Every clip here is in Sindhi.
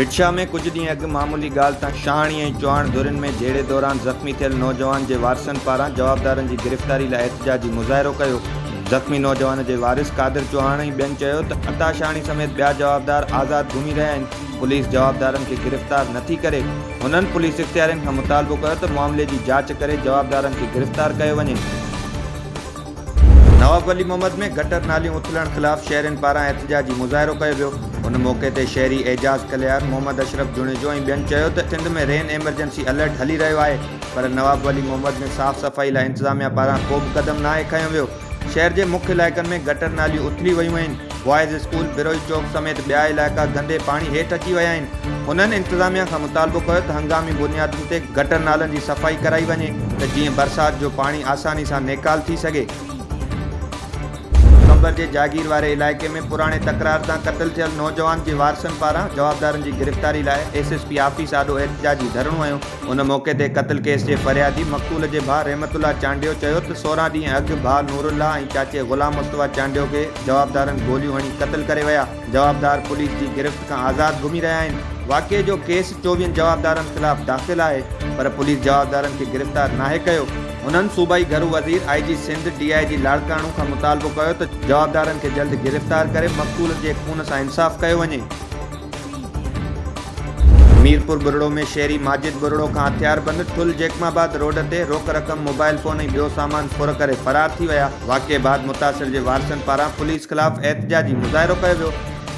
ڀٽشاهه ۾ ڪجهه ڏينهن اڳ معمولي ڳالهه تان شاهاڻي ۽ چوهاڻ ڌرين ۾ جهيڙي دوران زخمي ٿيل نوجوان جي وارثن پاران جوابدارن جي گرفتاري لاء احتجاجي مظاهرو ڪيو زخمي نوجوان جي وارث قادر چوهاڻ ۽ ٻين چيو ته عطا شاهاڻي سميت ٻيا جوابدار آزاد گهمي رهيا آهن پوليس جوابدارن کي گرفتار نه ٿي ڪري، هنن پوليس اختيارين کان مطالبو ڪيو ته معاملي جي جاچ ڪري جوابدارن کي گرفتار ڪيو وڃي. نواب ولي محمد ۾ گٽر ناليون اٿلڻ خلاف شهرين پاران احتجاجي مظاهرو ڪيو ويو، ان موقعي تي شهري اعجاز ڪليار، محمد اشرف جوڻيجو ۽ ٻين چيو ته سنڌ ۾ رين ايمرجنسي الرٽ هلي رهيو آهي پر نواب ولي محمد ۾ صاف صفائي لاء انتظاميا پاران ڪو به قدم ناهي کنيو ويو، شهر جي مک علائقن ۾ گٽر ناليون اٿلي ويون آهن، بوائز اسڪول، بروهي چوڪ سميت ٻيا علائقا گندي پاڻي هيٺ اچي ويا آهن، هنن انتظاميا کان مطالبو ڪيو ته هنگامي بنيادن تي گٽر نالن جي صفائي ڪرائي وڃي ته جيئن برسات جو پاڻي آساني سان نيڪال ٿي سگهي. قمبر جي جاگير واري علائقي ۾ پراڻي تڪرار تان قتل ٿيل نوجوان جي وارثن پاران جوابدارن جي گرفتاري لاء ايس ايس پي آفيس آڏو احتجاجي ڌرڻو هنيو، ان موقعي تي قتل ڪيس جي فريادي مقتول جي ڀاء رحمت الله چانڊيو چيو ته سورهن ڏينهن اڳ ڀاء نور الله ۽ چاچي غلام مصطفيٰ چانڊيو کي جوابدارن گوليون هڻي قتل ڪري ويا، جوابدار پوليس جي گرفت کان آزاد گهمي رهيا آهن، واقعي جو ڪيس چوويهن جوابدارن خلاف داخل آهي پر پوليس جوابدارن کي گرفتار ناهي ڪيو، هنن صوبائي گهرو وزير، آء جي سنڌ، ڊي آء جي لاڙڪاڻو کان مطالبو ڪيو ته جوابدارن کي جلد گرفتار ڪري مقتولن جي خون سان انصاف ڪيو وڃي. ميرپور ٻرڙو ۾ شهري ماجد ٻرڙو کان هٿيار بند ٺل جيڪم آباد روڊ تي روڪ رقم موبائل فون ۽ ٻيو سامان ڦر ڪري فرار ٿي ويا. واقعي بعد متاثر جي وارثن پاران پوليس خلاف احتجاجي مظاهرو ڪيو ويو.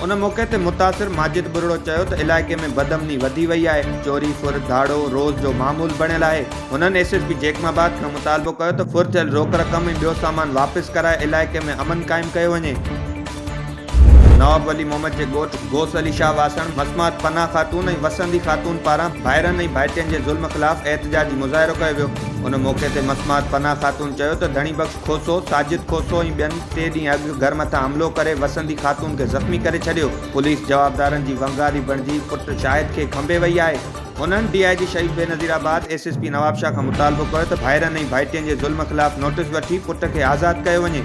ان موقعي تي متاثر ماجد ٻرڙو چيو ته علائقي ۾ بدامني وڌي وئي آهي، چوري ڦر ڌاڙو روز جو معمول بڻيل آهي. هنن S S P Jacobabad کان مطالبو ڪيو ته ڦر ٿيل روڪ رقم ۽ ٻيو سامان واپس ڪرائي علائقي ۾ امن قائم ڪيو وڃي. نواب ولي محمد جي ڳوٺ غوث علي شاهه واسڻ مسمات پناهه خاتون ۽ وسندي خاتون پاران ڀائرن ۽ ڀائٽين جي ظلم خلاف احتجاجي مظاهرو ڪيو ويو ان موقعي تي مسمات پناهه خاتون چيو ته ڌڻي بخش کوسو، ساجد کوسو ۽ ٻين ٽي ڏينهن اڳ گهر مٿان حملو ڪري وسندي خاتون کي زخمي ڪري ڇڏيو، پوليس جوابدارن جي ونگاري بڻجي پٽ شاهد کي کنڀي وئي آهي، هنن D I G Shaheed Benazirabad S S P Nawab Shah کان مطالبو ڪيو ته ڀائرن ۽ ڀائٽين جي ظلم خلاف نوٽيس وٺي پٽ کي آزاد ڪيو وڃي.